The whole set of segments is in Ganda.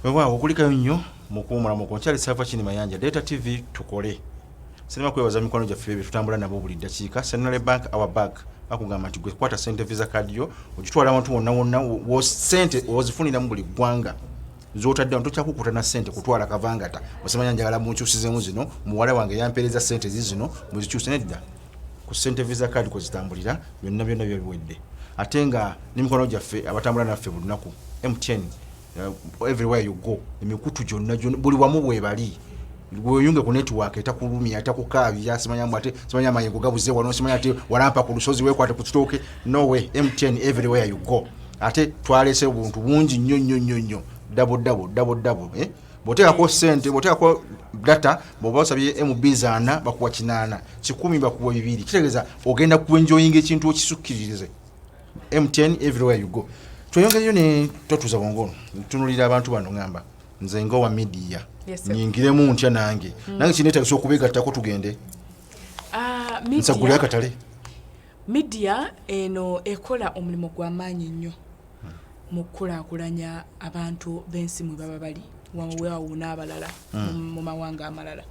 wewaawo okulikayo nnyo mukuwumula muko nkyali sava kini mayanja data tv tukole sinema kwebaza mikwano gyaffe ebyo tutambula nabo buli ddakiika central bank our bank bakugamba nti gwekwata sente visa kadiyo ogitwala awantu wonna wonna sente ozifuniramu buli ggwanga zotadde wano tokya kukuta na sente kutwala kavangata osemanya njagala munkyusizemu zino muwala wange yampeereza sente zizino muzikyuse nedda ku sente visa card kwezitambulira byonna byonna byo biwedde ate nga nemikono gyaffe abatambula naffe buli lunaku mtn uh, everywhere you go emikutu gyonna gyonna buli wamu bwebali gweyunge ku network etakulumya etakukaabya simanyamu ate simanya amayengo gabuze wano simanya ate walampa ku lusozi wekwate ku kitooke no way mtn everywhere you go ate twalese obuntu bungi nnyo nnyo nnyo nnyo dabo dabo dabo dabo eh? bwoteekako sente bwoteekako data bwoba osabye mb zaana bakuwa kinaana kikumi bakuwa bibiri kitegeeza ogenda kuenjoyinga ekintu okisukkiririze mtn everywhere you go tweyongereyo ne totuuza bwongo ntunulira abantu bano ngamba nze ngaowa midiya nyingiremu ntya nange hmm. nange kinetagisa okubegattako tugende ah, nsagule akatale Midiya eno ekola omulimu gwa maanyi nnyo mu kukulaakulanya abantu b'ensi mwe baba bali waweawo n'abalala hmm. mu mawanga amalala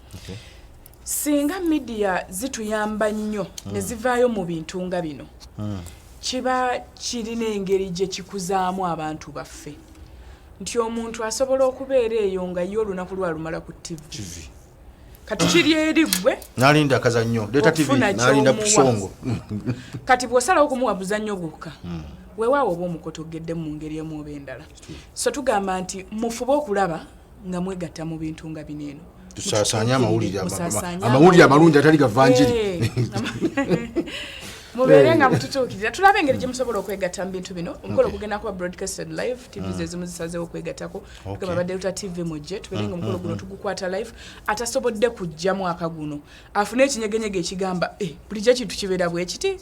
singa midiya zituyamba nnyo ne hmm. zivaayo mu bintu nga bino hmm. kiba kirina engeri gye kikuzaamu abantu baffe nti omuntu asobola okubeera eyo nga ye olunaku lwalumala ku ttivi kati kiri eri gwe nalinda akazannyo leta tv nalinda kusongo kati bw'osalawo okumuwa buzannyo gwokka hmm. weewaawo oba omukoto ogedde mu ngeri emu oba endala so tugamba nti mufube okulaba nga mwegatta mu bintu nga bino eno tusaasanye amawulire amawulire amalungi atali gavanjiri eh. mubeere eh. nga mututuukirira tulabe engeri gye musobola okwegatta mu bintu bino omukolo gugenda kuba broadcasted live tv hmm. zezimu zisazeewo okwegattako okay. baba delta tv mujje tubere nga mm, omukolo mm, guno mm. tugukwata live atasobodde kujja mwaka guno afune ekinyegenyege ekigamba eh, bulijjo kintu kibeera bwekiti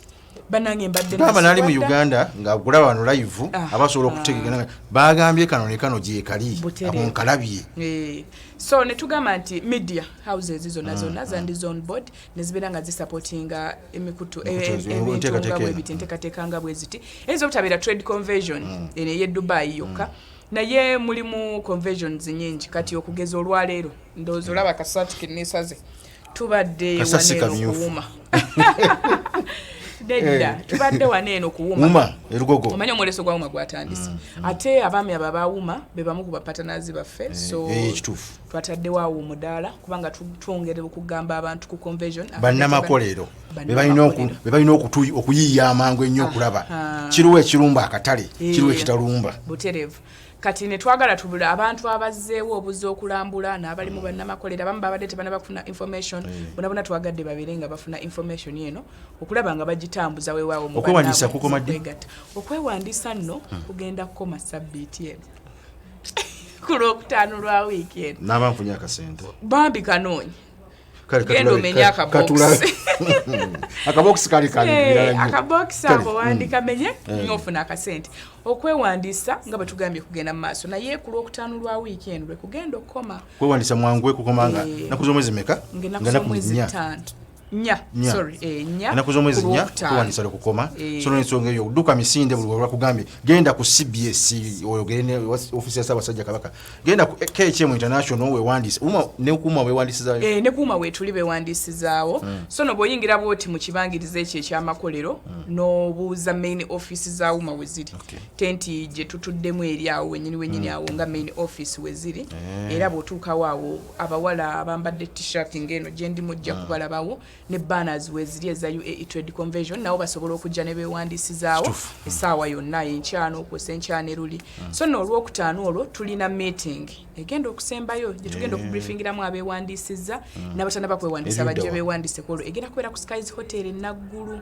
banange mbadde baba nali mu uganda ngagula wano live ah, abasobola ah. okutegegana bagambye kano ne kano gyekali akonkalabye eh, so netugamba nti media houses zona zona zandi zone board nezibeera nga zisupportinga emikutu ebintu nga bwebiti enteekateeka nga bweziti eyinza obutabeera trade conversion eno ey'e dubai yokka Naye mulimu conversions nyingi kati okugeza olwaleero ndowooza olaba kasaati keneesaze tubadde waneeno kuwuma nedda eh. tubadde wano eno kuwuma erugogo omanya omwoleso gwa wuma gwatandise mm, mm. ate abaami abo abawuma be bamu ku bapatanazi baffe eh, so eh, kituufu twataddewo awo omudaala kubanga twongere okugamba abantu ku convesion bannamakolero bebalina okuyiiya amangu ennyo okulaba kiriwo ekirumba akatale eh, kiriwo ekitalumba buterevu kati netwagala tubula abantu abazzeewo obuza okulambula n'abali mu bannamakolero abamu babadde tebanaba kufuna information eh. bonabona twagadde babeere nga bafuna information eno okulaba nga bagitambuza wewaawo okwewandiisa nno kugenda kukoma sabbiiti eno ku lwokutaano lwa wiiki eno naaba nfunye akasente bambi kanoonyi genda omenye akabokisi akabokisi kali kali eh, akabokisi ako wandika mm. menye eh. ngofuna akasente okwewandiisa nga bwe tugambye kugenda mu maaso naye ku lwokutaano lwa wiiki eno lwe kugenda okukoma kwewandiisa mwangu ekukoma nga eh. naku z'omwezi meka nga naku mwezi ttaano nya sorry eh nya na kuzo mwezi nya kwa ni sala kukoma eh. so ni songe yo duka misinde bulu wala kugambe genda ku CBS oyo gene ofisi ya saba sajja kabaka genda ku eh, KHM international we wandis uma ne kuma we wandis za eh ne kuma we tulibe wandis zawo mm. so no boyingira boti mu kibangirize kye kya makolero mm. no buza main office za uma weziri okay. tenti je tutudde mu eri awo wenyini wenyini mm. awo nga main office weziri eh. era botuka wawo abawala abambadde t-shirt ng'eno gye ndi mujja ah. kubalabawo ne banners weeziri eza uae trade convention nabo basobola okujja ne beewandiisizaawo hmm. essaawa yonna enkyana okwosa enkyana eruli hmm. so no olwokutaano olwo tulina meeting egenda okusembayo gye tugenda eh. okubriefingiramu abeewandiisizza hmm. n'abatana bakwewandiisa bajja beewandiiseko olwo egenda kubeera ku skies hotel enaggulu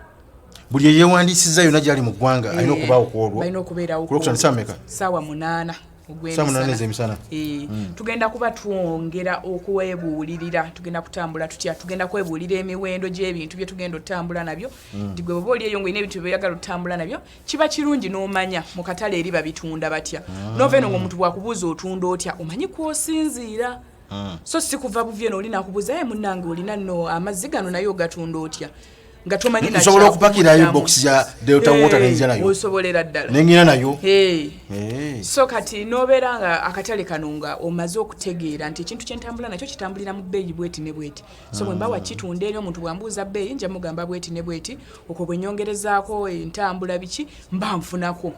buli eyewandiisizza yonna gyali mu ggwanga alina eh. okubaawo ku olwo kulwokutandisa meka saawa munaana ogwemisana eh, hmm. tugenda kuba twongera okwebuulirira tugenda kutambula tutya tugenda kwebuulira emiwendo gy'ebintu bye tugenda otutambula nabyo hmm. nti gwe baba oli eyo ngaolina ebintu byoyagala otutambula nabyo kiba kirungi n'omanya mu katale eri babitunda batya ah. novaeno ngaomuntu bwakubuuza otunda otya omanyi kwosinziira mm. so sikuva buvye noli nakubuza ye munange olina no amazzi gano naye ogatunda otya nga tomanyi nsobola okupakirayo box ya delta water nenja nayo osobolera ddala nengina nayo so kati nobeera nga akatale kano nga omaze okutegeera nti ekintu kyentambula nakyo kitambulira mu bbeeyi bweti ne bweti so bwemba mm. wakitunda eri omuntu bwambuuza bbeeyi nja mugamba bweti ne bweti okwo bwenyongerezaako entambula biki mba nfunako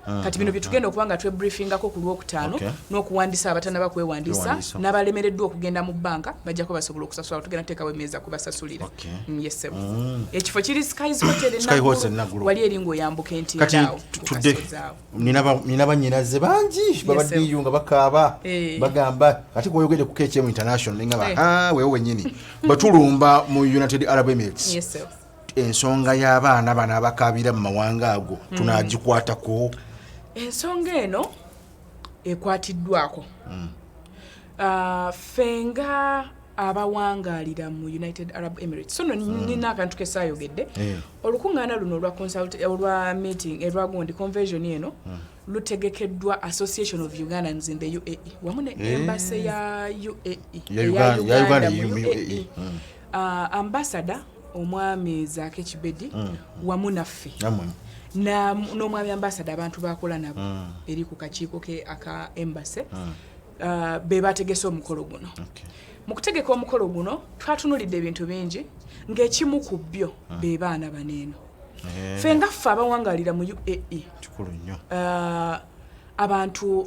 Ah, kati bino ah, byetugenda ah. okuba nga twebriefingako ku lwokutaano okay. n'okuwandisa abatanaba kwewandiisa n'abalemereddwa okugenda mu bbanka bajjako basobola okusasula tugenda tuteekawo emeeza kubasasulira okay. mm, yesebo mm. ekifo kiri skies hotel enagulu wali eri ng'oyambuka entiidaawo tudde nina banyinaze bangi babaddiyo nga bakaaba eh. bagamba ate kwoyogede ku kcm international nengaba eh. wewe wenyini batulumba mu united arab emirates yes, ensonga y'abaana bano abakaabira mu mawanga ago hmm. tunaagikwatako ensonga eno ekwatiddwako hmm. ah, ffe nga abawangaalira mu united arab emirates so hmm. nina akantu kesaayogedde eh. olukuŋŋaana luno olwa consult olwa meeting erwagundi convention eno lutegekeddwa association of ugandans in the uae wamu ne eh. embassy ya uae ya uganda mu uae e. ah, ambassador omwami zaake kibedi mm, mm. wamu naffe n'omwami ambasada abantu bakola nabo mm. eri ku kakiiko ke aka embase uh, be bategese omukolo guno mu kutegeka omukolo guno twatunulidde ebintu bingi ng'ekimu ku byo be baana baneeno eh. fe nga ffe abawangalira mu uae uh, abantu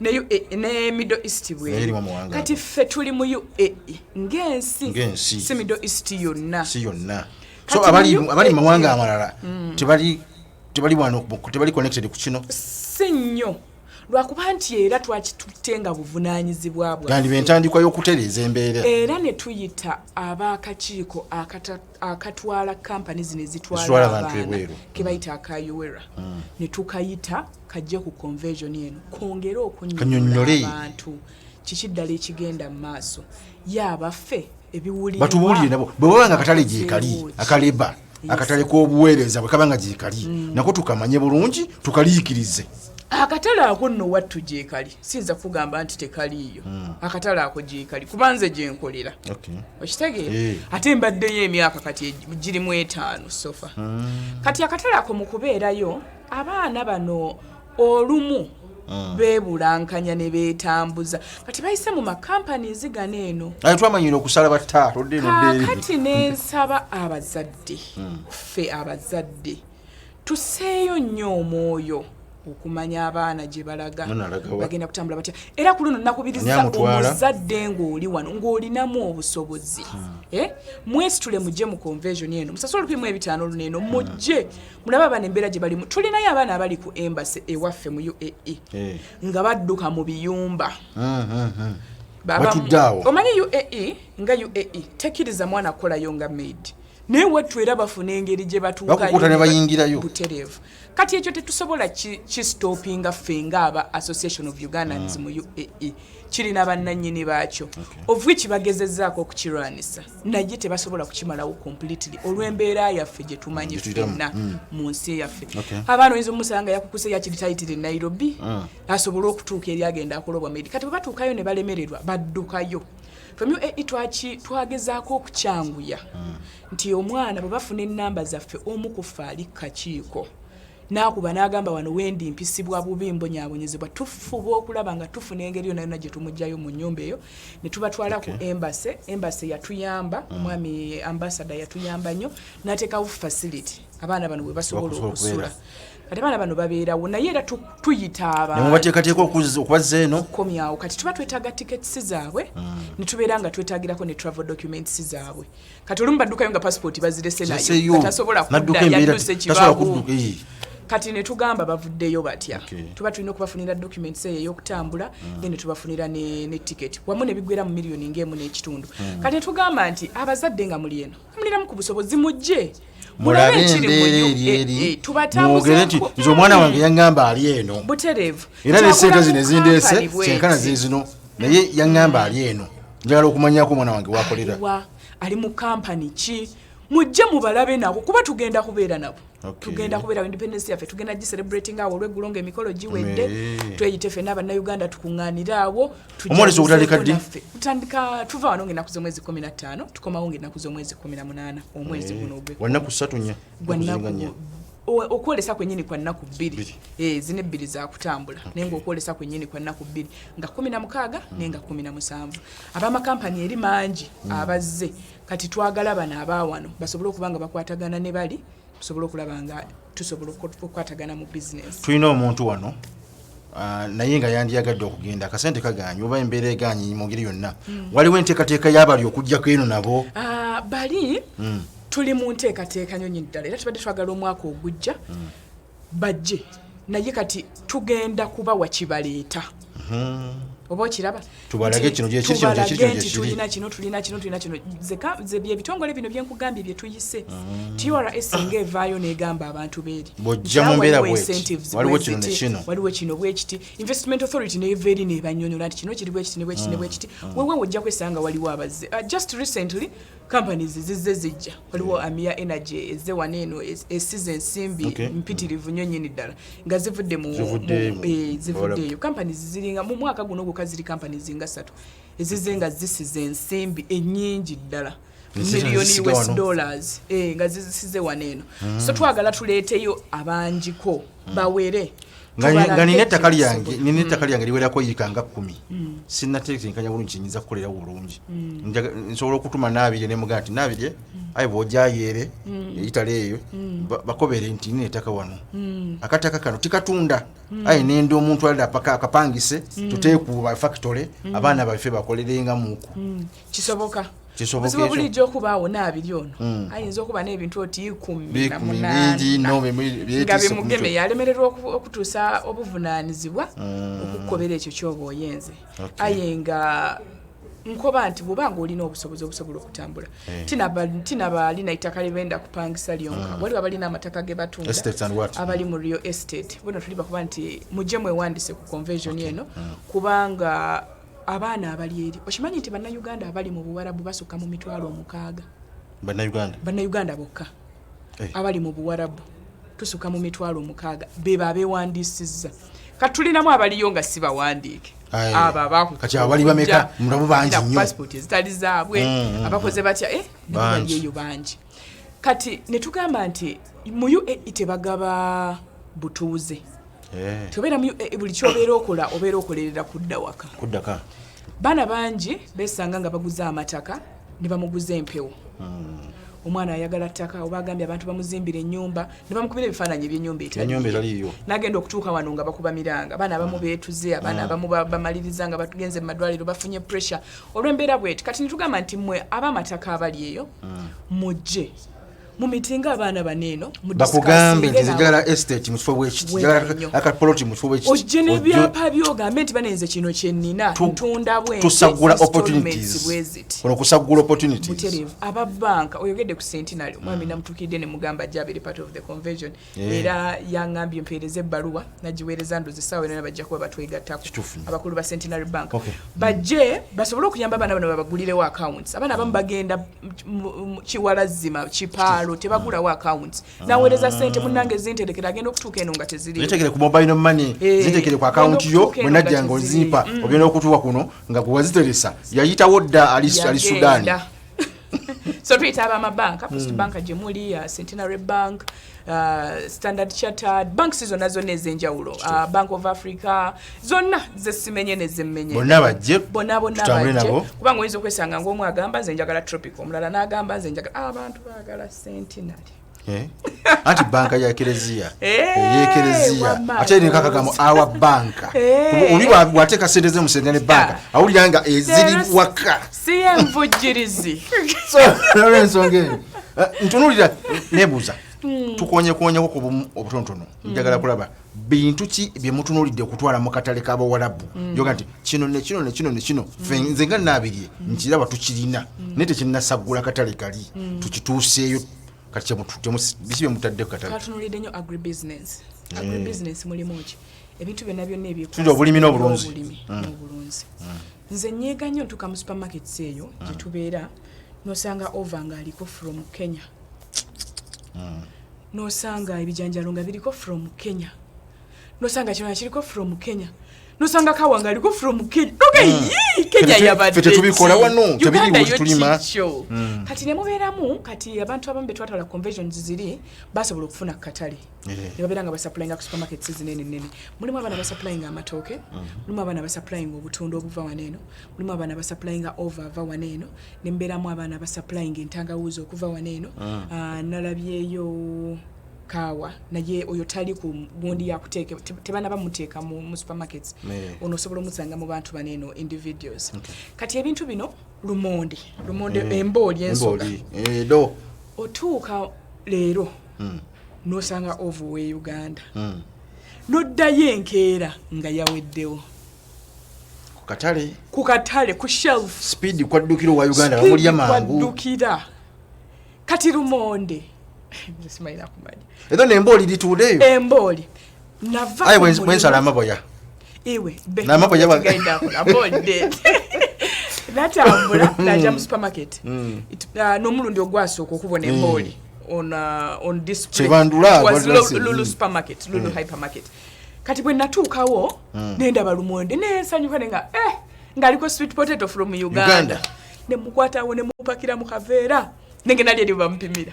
ne UAE eh, ne Middle East bwe kati ffe tuli mu UAE ng'ensi ng'ensi si Middle East yonna si yonna so abali abali e, mawanga e. amalala mm. tebali tebali wano tebali connected ku kino si nnyo lwakuba nti era twakitutte nga buvunaanyizibwa bwa gandi bentandikwa y'okutereeza embeera era ne tuyita ab'akakiiko akatatu akatwala kampani zino ezitwala abaana kebayita mm. akayowera mm. ne tukayita kajje ku conversion eno kwongere okunyonyola abantu kiki ddala ekigenda mu maaso yaabaffe ebiwulirwatubuulire nabo bwe baba nga akatale gyekali akaleba akatale k'obuweereza bwe kaba nga gyekali mm. nako tukamanye bulungi tukaliikirize akatale ako nno wattu gyekali siyinza kugamba nti tekaliiyo hmm. akatale ako gyekali kuba nze gyenkolera okitegeera eh. ate mbaddeyo emyaka kati girimu etaano sofa hmm. kati akatale ako mu kubeerayo abaana bano olumu hmm. bebulankanya ne beetambuza kati bayise mu makampani ezigana eno twamanyira okusala battaakati nensaba abazadde ffe abazadde tuseeyo nnyo omwoyo okumanya abaana gye balaga bagenda kutambula batya era ku luno nakubiriza omuzadde ng'oli wano ng'olinamu obusobozi hmm. eh? mwesitule mujje mu convesion eno musasula olupimu ebitaano luno eno hmm. mujje mulaba abaana embeera gye balimu tulinayo abaana abali ku embasi ewaffe mu uae eh. nga badduka mu biyumba hmm, omanyi uae nga uae tekiriza mwana kukolayo nga maid naye wettu era bafuna engeri gye batuukakukuta ne bayingirayo butereevu kati ekyo tetusobola kistopinga ffe nga aba association of ugandans mm. mu uae kirina bannanyini baakyo okay. of which bagezezaako okukirwanisa naye tebasobola kukimalawo completely olw'embeera yaffe gye tumanyi fenna mm. mu nsi yaffe okay. abaana oyinza omusanga yakukuse yakiritayitire nairobi mm. asobole okutuuka eri agenda akolobwa medi kati bwe batuukayo ne balemererwa baddukayo From UAE twaki twagezaako okukyanguya hmm. nti omwana bwe bafuna ennamba zaffe omu ku ffe ali kakiiko n'akuba n'agamba wano wendi mpisibwa bubi mbonyabonyezebwa tufuba okulaba nga tufuna engeri yona yona gye tumugyayo mu nyumba eyo ne tubatwala ku embase embase yatuyamba hmm. omwami ambasada yatuyamba nnyo n'ateekawo facility abaana bano bwe basobola okusula kati abaana bano babeerawo naye era tuyita abamubateekateeka okubazza eno okukomyawo kati tuba twetaaga tickets zaabwe hmm. ne tubeera nga twetaagirako ne travel documents zaabwe kati olumu baddukayo nga passport bazirese nayo tasobola kudda yatuuse ekibawo kati ne tugamba bavuddeyo batya tuba tulina okubafunira documents eyo ey'okutambula hmm. then tubafunira ne ticket wamu ne bigwera mu miliyoni ng'emu n'ekitundu hmm. kati ne tugamba nti abazadde nga muli eno muliramu ku busobozi mujje mulabe embeera eri eri mwogere nti nze omwana wange yaŋŋamba ali eno era ne sente zino ezindeese kyenkana zizino naye yaŋŋamba ali eno njagala okumanyako omwana wange wakolera ali mu kampani ki mujje mubalabe nabo kuba tugenda kubeera nabo Okay. tugenda kubeera independence yaffe tugenda gicelebrating awo olweggulo nga emikolo giwedde tweyite ffe n'abannayuganda tukuŋŋaanira awo omwolesi ogutandika ddi tutandika tuva wano ng'ennaku z'omwezi kumi na ttaano tukomawo ng'ennaku z'omwezi kumi na munaana omwezi guno ogwe wannaku ssatu nnya gwannaku okwolesa kwenyini kwa nnaku bbiri eh, zina ebbiri zakutambula naye nga okwolesa kwenyini kwa nnaku bbiri nga kumi na mukaaga mm. naye nga kumi na musanvu abamakampani eri mangi mm. abazze Kati twagala bano abaawano basobole okuba nga bakwatagana ne bali tusobole okulaba nga tusobola okukwatagana mu bizinesi. Tulina omuntu wano ah, naye nga yandiyagadde okugenda akasente kaganye oba embeera eganye mu ngeri yonna hmm. waliwo enteekateeka y'abali okujjako eno nabo ah, bali hmm. tuli mu nteekateeka nyonyi ddala era tubadde twagala omwaka ogujja hmm. bajje naye kati tugenda kubawa kibaleeta hmm. oba okiraba tubalage kino nti tulina kino tulina kino tulina kino byebitongole bino byenkugambye byetuyise hmm. trs nga evaayo negamba abantu beeri waliwo kino bwekiti investment authority neva eri nebanyonyola nti kino kiri bwekiti nebwekiti nebwekiti hmm. wewe ojja kwesanga waliwo abazze uh, just recently companies zizze zijja waliwo yeah. amia energy ezze wano eno esize ensimbi okay. mpitirivu nnyo nyini ddala nga zivudde mu eh, zivuddeeyo companies ziringa mu mwaka guno gwokka ziri companies nga ssatu ezizze nga zisize ensimbi ennyingi ddala miliyoni us dollars eh, nga zizisize wano eno mm. so twagala tuleeteyo abanjiko hmm. bawere nga nina ettaka lyange nina ettaka hmm. lyange liwerako yiika nga kumi hmm. sinatetenkanya bulungi kyenyinza kukolerawo bulungi nsobola okutuma naabirye nemugaa nti naabirye aye bwojayeere eitale eyo bakobere nti nina ettaka wano akataka kano tikatunda aye nende omuntu alira paka akapangise tuteekuba factory abaana baffe bakolerengamuku kisoboka kisoboka bulijjo okubaawo naabiri ono hmm. ayinza okuba n'ebintu oti ikumi namunanga bimugeme yalemererwa okutuusa obuvunaanyizibwa hmm. okukukobera ekyo kyoba oyenze aye nga nkoba nti bwoba nga olina obusobozi obusobola okutambula eh. tina balina ettaka lyebenda kupangisa lyonka hmm. waliwo abalina amataka ge batunda abali mu real estate bona tuli bakuba nti mujje mwewandise ku convention eno kubanga abaana abali eri okimanyi nti bannayuganda abali mu buwarabu basukka mu mitwalo omukaaga bannayuganda bannayuganda bokka eh. abali mu buwarabu tusuka mu mitwalo omukaaga bebo abewandiisizza kati tulinamu abaliyo nga si bawandiike ababakupaspoti ezitali zaabwe mm, mm, mm. abakoze batya eh, eyo bangi kati ne tugamba nti mu uae tebagaba butuuze Eh. tobeera eh, eh, buli kyobeera okola obeera okolerera kudda waka kuddaka baana bangi besanga nga baguza amataka ne bamuguza empewo hmm. omwana ayagala ttaka oba agambye abantu bamuzimbira enyumba nebamukubira ebifaananyi ebyenyumba enyumba eraliyo nagenda okutuuka wano nga bakuba miranga abaana abamu hmm. beetuze abaana hmm. abamu bamaliriza nga batugenze mu madwaliro bafunye pressure olw'embeera bweti kati nitugamba nti mwe ab'amataka abali eyo mujje mumitinga abaana baneeno bakugambe nti njagala estate mukifo bwekiti akapoloti mukifo bwekiti ojje nebyapa byogambe nti banenze kino kyenina ntunda bwentusagula opportunities ono kusagula opportunities aba banka oyogedde ku centenary mwami mm. namutukidde ne mugamba jabiri part of the convention Eh. era yangambye mpeereza ebbaluwa nagiweereza ndozi saawa yona bajja kuba batwegattako abakulu ba centenary bank bajje basobole okuyamba abaana bano babagulirewo accounts abaana abamu bagenda kiwalazzima kipaalo tebagulawo accounts ah. naweereza sente munange zinterekera agenda okutuuka eno nga teziritekere ku mobile money eh, zintekere ku account yo bwenajja nga ozimpa mm. ogenda okutuuka kuno nga gwewaziteresa yayitawo dda ali sudaani so tuyita aba amabanka first mm. banka gye muli uh, centenary bank uh, standard chartered banks zonna zonna ez'enjawulo uh, bank of africa zonna zesimenye nezemenye bonna bajje bonna bonna bajje kubanga oyinza okwesanga ngaomu agamba nze njagala tropic omulala n'agamba nze njagala abantu ah, bagala centenary Eh? anti banka ya kereziya eh, eyekereziya ate eringa kagamo awa banka eh. oli wateeka sente ze musente ne banka awulira nga eziri waka siyenvujjirizi olwensonga eyo ntunulira nebuuza hmm. tukonyekonyeko ku bumu obutonotono hmm. njagala kulaba bintu ki bye mutunuulidde okutwala mu katale k'abawalabu mm. yoga nti kino ne kino ne kino ne kino mm. fe nze nga naabirye mm. nkiraba tukirina mm. naye tekinnasaggula katale kali mm. tukituuseeyo kati kyemututebiki bye mutadde ku katale katunulidde nnyo agribusiness mm. agribusiness mulimu ki ebintu byonna byonna ebyetuli obulimi n'obulunzi mm. n'obulunzi mm. nze nyeega nnyo ntuuka mu supermarkets eyo gye mm. tubeera nosanga ova ng'aliko from kenya mm. nosanga ebijanjalo nga biriko from kenya nosanga kyona kiriko from kenya nosanga kawa nga aliko from kenya okay, mm. yii, kenya yabadetubikola wano tebiriwetulima mm. kati nemubeeramu kati abantu abamu betwatwala conventions ziri basobola okufuna kukatale Eh. nebabeera nga basapulainga ku supermarkets zinene nene mulimu abaana basapulainga amatooke mhm. mulimu abaana basapulainga obutunda obuva wano eno mulimu abaana basapulainga ova ava wano eno nembeeramu abaana basapulainga entangawuuzi okuva wano eno mm. ah, nalabyeyo kaawa naye oyo tali ku gundi yakuteeka tebana bamuteeka mu, mu supermarkets ono osobola omusanga mu bantu bano eno individuals okay. kati ebintu bino lumonde lumonde mm. embooli ensoga eh, otuuka leero mm. nosanga ova owe uganda hmm. noddayo enkeera nga yaweddewo kukatale kukatale ku shelf speed kwaddukira owa uganda bamulya mangu kwaddukira kati lumonde simanyi nakumanya ezo nembooli lituudeyo embooli aye bwensala amaboya iwe namaboya natambula naja mu supermarket mm. uh, n'omulundi ogwasooka okubona mm. embooli on uh, on display was lulu supermarket lulu mm. hypermarket kati bwe natuukawo mm. nendaba lumonde nensanyuka ne nga eh ngaliko sweet potato from uganda, uganda. nemukwatawo nemupakira mu kaveera nenge nali eri bampimira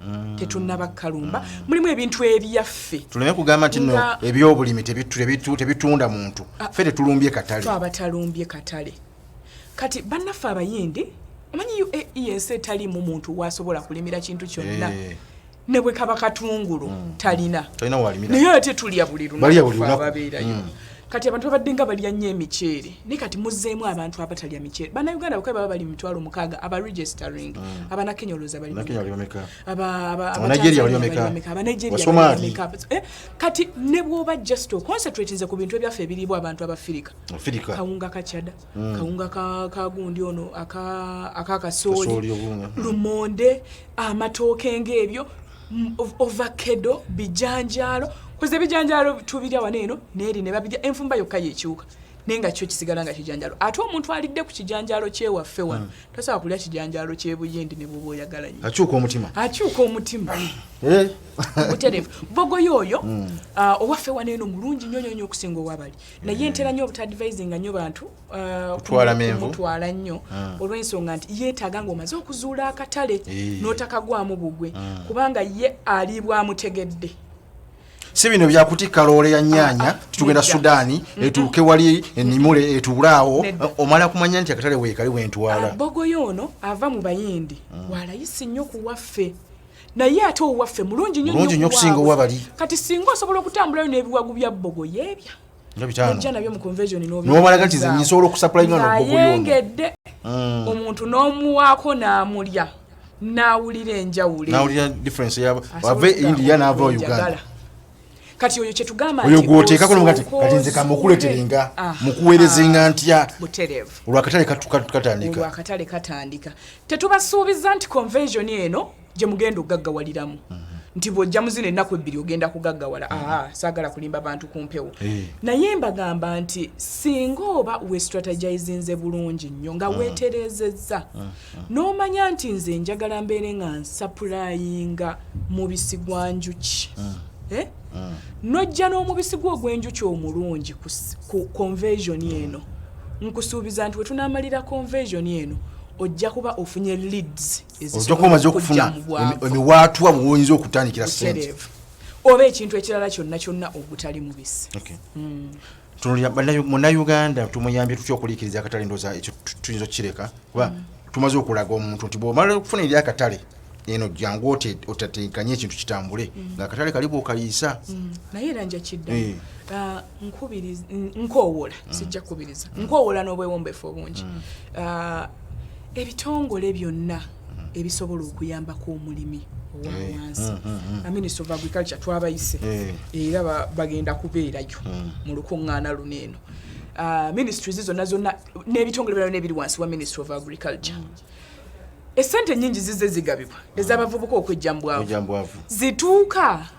Mm. tetunaba kalumba mm. mulimu ebintu ebyaffe tuleme kugamba nti no ebyobulimi tebitunda muntu ah. fe tetulumbye katale abatalumbye katale kati bannaffe abayindi omanyi uae ensi etaliimu muntu wasobola kulimira kintu kyonna eh. ne bwe kaba katungulu mm. talina naye ate tulya buli lunakubabeerayo kati abantu babadde nga balya nnyo emiceere naye kati muzzeemu abantu abatalya miceere bannayuganda bakae baba bali mitwalo mukaaga aba registering mm. abanakenya olowooza baliabanigeriaameka eh, kati ne bwoba just oconcentratinze ku bintu ebyaffe ebiriibwa abantu abafirika kawunga kacada mm. kawunga kagundi ono akakasooli lumonde amatooke ngaebyo Mm, ovakedo bijanjaalo kuze bijanjaalo tubirya wano eno neeri ne babirya enfumba yokka yekyuka naye nga kyo kisigala nga kijanjaalo ate omuntu alidde ku kijanjaalo kyewaffe wano hmm. tasobola kulya kijanjaalo kyebuyindi ne bwoba oyagala nyo akyuka omutima akyuka omutima eh? buterevu bogoyo oyo hmm. ah, owaffe wano eno mulungi nyo nyonyo okusinga owabali naye eh. ntera nyo obutadvisinga nyo bantu Uh, kutwala menvu kutwala nnyo mm. olw'ensonga nti yeetaaga ng'omaze okuzuula akatale eh. n'otakagwamu bugwe mm. kubanga ye aliibwamutegedde si bino byakutikka loole ya nyaanya ah, ah, tugenda sudaani etuuke wali enimule etuule awo omala kumanya nti akatale weekali wentwala ah, bogoyo ono ava mu bayindi mm. walayisi nnyo ku waffe naye ate owaffe mulungi nnyo nnyo okusinga owabali kati singa osobola okutambulayo n'ebiwagu bya bogoyo ebya nojja nabyo mu convention nobalaga nti nze nsobola okusapulayinga nobuyongedde mm. omuntu n'omuwaako n'amulya n'awulira enjawulonawulira difference yabo ave india n'ava uganda kati oyo kyetugamba oyo gwoteekako nti kati nze kamukuleterenga mukuweerezenga ntya olwakatale katandika olwakatale katandika tetubasuubiza nti convention eno gye mugenda okugaggawaliramu nti bw'ojja mu zino ennaku ebbiri ogenda kugaggawala aa saagala kulimba bantu ku mpewo eh. naye mbagamba nti singa oba westrategizinze bulungi nnyo nga mm. weetereezezza mm, mm. n'omanya nti nze njagala mbeere nga nsapulayinga mubisi gwa njuki eh? nojja n'omubisi gwo ogw'enjuki omulungi ku convesion eno nkusuubiza nti wetunamalira convesion eno ojja kuba ofunye leads ojakuba omaze okufuna emiwaatwa muwoyinza okutandikira sente oba ekintu ekirala kyonna kyonna ogutali mubisi hmm. munauganda tumuyambye tutya okuliikiriza akatale ndoza ekyo tuyinza okukireka kuba hmm. tumaze okulaga omuntu nti bwomala okufuna eri akatale eno jangu otatenkanye ekintu kitambule hmm. nga akatale kali bwokaliisa naye era njakidda eh. ah, nkowoola mm. sijja kukubiriza mm. nkowoola n'obwewombefu obungi mm. uh, ebitongole byonna ebisobola okuyambako omulimi owawansi eh, mm-hmm. minister of agriculture twabayise eh. era bagenda kubeerayo mu lukuŋŋaana luno eno uh, ministries zonna zonna n'ebitongole byona nebiri wansi wa ministry of agriculture esente nyingi zize zigabibwa ezabavubuka okwejjambwavu zituuka mm.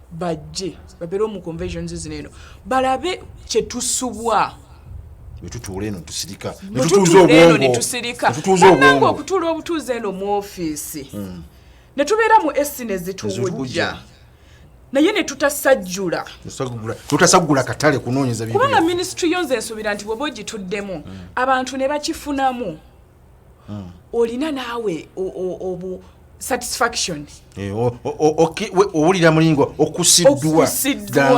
bajje babere omu conventions zino eno balabe kyetusubwa netutuula eno tusirika netutuuza obwongo okutuula obutuuza eno mu ofiisi hmm. netubeera mu esi nezituwujja naye netutasajjula tutasaggula katale kunoonyeza kubanga minisitule yo nze nsuubira nti bwoba ogituddemu hmm. abantu ne bakifunamu hmm. olina naawe obu satisfaction eh, owulira mulingo okusiddwa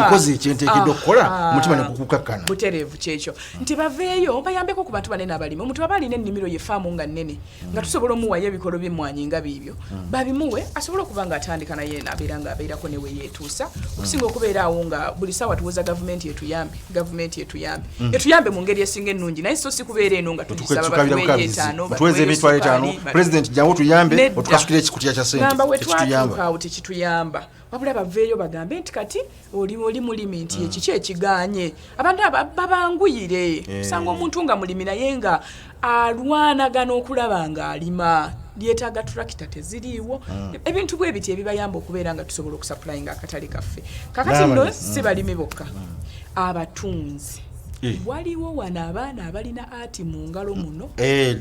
nkozi ekyentekedde okukola ah, mutima nekukukakkana butereevu kyekyo nti baveeyo bayambeko ku bantu banene abalimi omuntu aba alina ennimiro ye faamu nga nnene nga tusobola omuwayo ebikolo byemmwanyi nga biibyo hmm. babimuwe asobole okuba nga atandika naye nabeera nga abeerako neweyeetuusa okusinga okubeera awo nga buli saawa tuwoza gavumenti etuyambe gavumenti etuyambe mm. etuyambe mu ngeri esinga ennungi naye so sikubeera eno nga tugisabatuweze emitwalo etaano pulezidenti jangu tuyambe otukasukira ekikutya kya sentamba wetwatuukaawo tekituyamba wabula baveeyo bagambe nti kati oli oli mulimi nti mm. ekiki ekiganye abantu babanguyire eh. osanga omuntu nga mulimi naye nga alwanagana okulaba ng'alima lyetaaga turakita teziriiwo mm. ebintu bwe biti ebibayamba okubeera nga tusobola okusapulayinga akatale kaffe kakati nno si mm. balimi bokka mm. abatunzi eh. waliwo wano abaana abalina ati mu ngalo muno eh,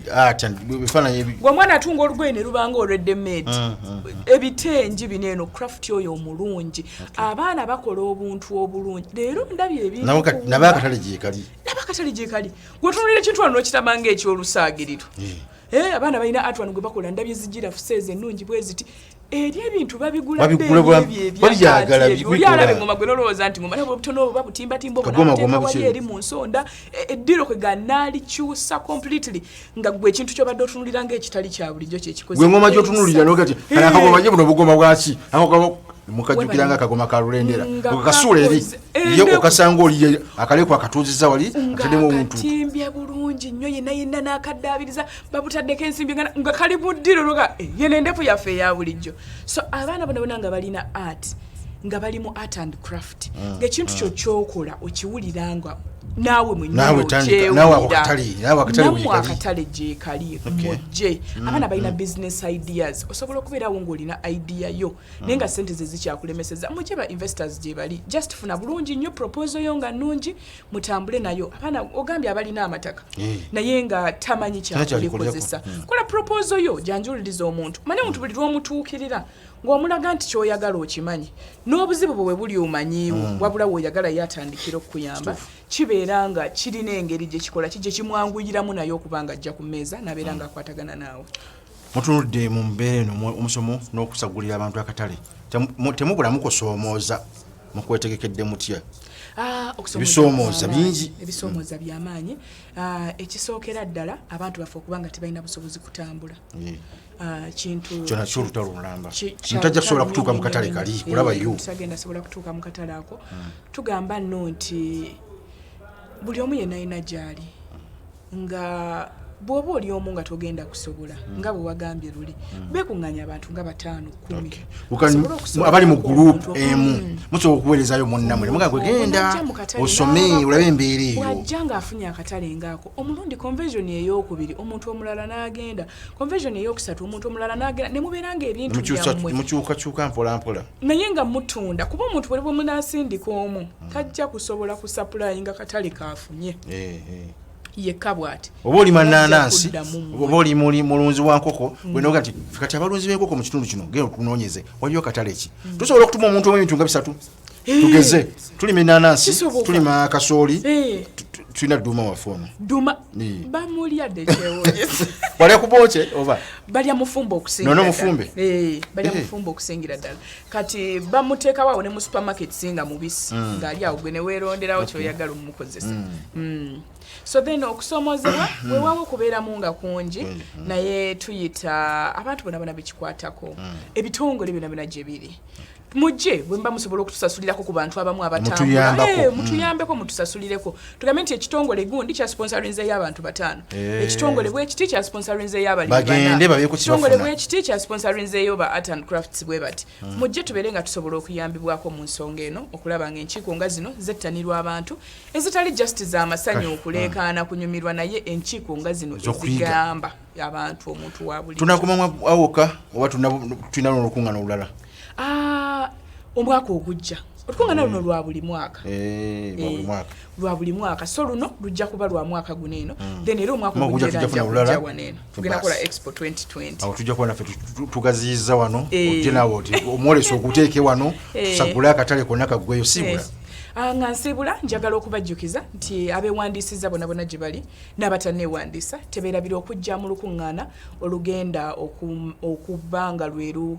omwana atunga olugoye ne lubanga olweddemed ebitengi bino eno craft oyo omulungi abaana bakola obuntu obulungi leero ndabye ebintu nabo akatale gyekali gwetunulira ekintu wano nokitama nga ekyolusaagiriro eh. Eh, abaana balina art wano gwe bakola ndabye zijira fuseeze ennungi bwe ziti eri ebintu babigulabyagalabyalabe ngoma gwe nolowooza nti ngoma nabo obutono oba butimbatimba obunateekawali eri mu nsonda e, eddiro kwe ganalikyusa completely nga gwe ekintu kyobadde otunulira nga ekitali kya bulijjo kyekikozegwe ngoma gyotunulira nogati eh. akagoma ye buno bugoma bwaki mukajjukira nga akagoma ka lulendera okakasuula eri ye okasanga oli akaleko akatuuziza wali atademu omuntu timbye bulungi nnyo yena yena n'akaddaabiriza babutaddeko ensimbi nga kali buddiro noga eh, yena endefu yaffe eya bulijjo so abaana bona bona nga balina art nga bali mu art and craft ah, ngaekintu kyo ah. kyokola okiwulira nga naawe mwenyewekyewuliranamwakatale gyekali mujje mm, abaana balina mm. business ideas osobola okubeerawo ngaolina idea yo ah. naye nga sente ze zikyakulemeseza muje ba investors gyebali just funa bulungi nnyo proposal yo nga nnungi mutambule nayo abaana ogambye abalina amataka eh. naye nga tamanyi kyakulikozesa hmm. kola proposal yo janjuliriza omuntu mane omuntu buli lwomutuukirira ng'omulaga nti kyoyagala okimanyi n'obuzibu bwe bwe buli omanyiiwo mm. wabula woyagala ye atandikira okukuyamba kibeera nga kirina engeri gye kikola ki gye kimwanguyiramu naye okuba nga ajja ku mmeeza nabeera mm. nga akwatagana naawe mutunudde mu mbeera eno omusomo n'okusagulira abantu akatale temubula mukusoomooza mukwetegekedde mutya ah, ebisoomooza bingi ebisoomooza byamaanyi ah, ekisookera ddala abantu baffe okuba nga tebalina busobozi kutambula ah, kintu kyona kyo olutalo olulamba ntajja kusobola kutuuka mu katale kali eh, kulaba yo tagenda sobola kutuuka mu katale ako hmm. tugamba nno nti buli omu yenayina gyali nga bwoba oli omu nga togenda kusobola hmm. nga bwewagambye luli hmm. bekunganya abantu nga batano kumiabali mu group emu hmm. musobola okuwerezayo munamwe muga kwegenda osome olabe embeera eyo wajja nga afunye akatale ngaako omulundi convesion eyokubiri omuntu omulala nagenda convesion eyokusatu omuntu omulala nagenda nemubeera nga ebintu mukyukakyuka mpolampola naye nga mutunda kuba omuntu buli bwemunasindika omu tajja kusobola kusapulayi nga katale kaafu nye eh, eh. yekka bwati oba oli mananansi oba oli muli mulunzi wa nkoko mm. wenoga nti kati abalunzi b'enkoko mu kitundu kino genda otunoonyeze waliyo katale ki mm. tusobola okutuma omuntu omu ebintu nga bisatu eh. tugeze tulima enanansi tulima akasooli eh. tulina duma waffe ono duma bamulya dekyewonyesa balya kubokye oba balya mufumbe okusingira none mufumbe eh, balya eh. mufumbe okusingira ddala kati bamuteekawo awo ne mu supermarket singa mubisi mm. ng'ali awo gwe neweeronderawo kyoyagala omukozesa mm. mm. so then okusoomozebwa mm. wewawo okubeeramu nga kungi mm. naye tuyita abantu bona bona bekikwatako mm. ebitongole byona byona gye biri mujje bwemba musobola okutusasulirako ku bantu abamu abatambula mutuyambeko eh, mm. mutusasulireko tugambe nti ekitongole gundi kya sponsorinze y'abantu bataano eh. ekitongole bwekiti kya sponsorinze y'abalimibanaekitongole bwekiti kya sponsorinze yo ba art and crafts bwe bati hmm. mujje tubeere nga tusobola okuyambibwako mu nsonga eno okulaba nga enkiiko nga zino zettanirwa abantu ezitali just za masanyu hmm. okuleekaana kunyumirwa naye enkiiko nga zino ezigamba abantu omuntu wabuli tunakomamu awoka oba tulina nolukuŋŋana olulala Ah, omwaka ogujja olukungaana luno lwa buli mwaka eh, eh, lwa buli mwaka so luno lujja kuba lwa mwaka guno eno hmm. then era omwaka ogujjawaneno tugenda kola expo 2020 tujja kuba naffe tugaziyiza wano eh. ojje nawe oti omwolesa oguteeke wano tusagule akatale konna kaggweyo sibula Ah, nga nsiibula njagala okubajjukiza nti abeewandiisizza bonabona gye bali n'abatanneewandiisa tebeerabira okujja mu lukuŋŋaana olugenda okuba nga lweru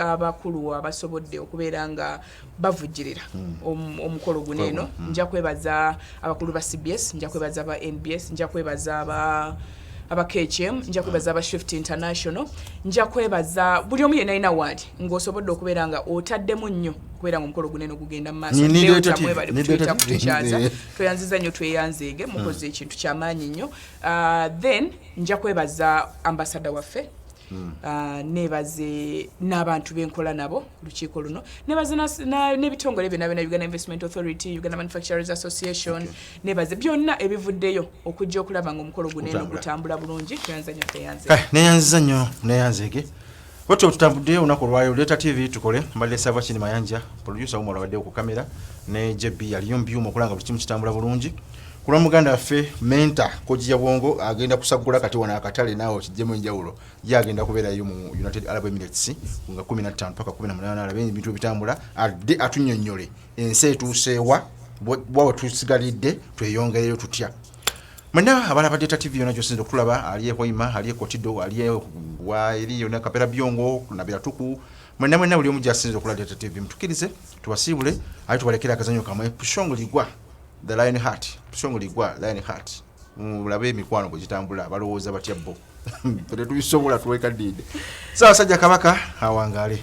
abakulu abasobodde okubeera nga bavujjirira omukolo guno eno nja kwebaza abakulu ba cbs nja kwebaza aba nbs nja kwebaza aba aba KHM nja kwebaza aba Shift International nja kwebaza buli omu yenna alina waali ng'osobodde okubeera nga otaddemu nnyo okubeera nga omukolo gunene ogugenda mu maaso tweyanziza nnyo tweyanzeege mukoze hmm. ekintu kyamaanyi nnyo ah, then nja kwebaza ambasada waffe Mm. Uh, nebaze n'abantu benkola nabo lukiiko luno nebaze n'ebitongole byona byona uganda investment authority uganda manufacturers association okay. nebaze byonna ebivuddeyo okujja okulaba nga omukolo guneno gutambula bulungi tweyanzanyo tweyanze eh, neyanziza nnyo neyanzege otyo tutambudde olunaku olwayo leeta tv tukole mbadde sava kini mayanja producer wumwe olabadde okukamera ne jb yaliyo mu byuma okulanga buli kimu kitambula bulungi kulwa muganda waffe menta kojja bwongo agenda kusagula kati wano akatale naawe okijjemu enjawulo ye agenda kubeerayo mu united arab emirates nga 15 paka 18 alabe ebintu ebitambula adde atunyonyole ensi etuuseewa bwawe tusigalidde tweyongereyo tutya mwena abala badde ta tv yona gyosinza okutulaba ali ehoima ali ekotido ali waeri yona kapera byongo nabira tuku mwena mwena buli omu gyasinza okulaba data tv mutukirize tubasiibule aye tubalekera akazanyo kamwe pushongo ligwa the lion heart song ligwa lion heart mulabe emikwano bwe gitambula balowooza batya bo tetubisobola tuwekaddiide saasajja kabaka awangaale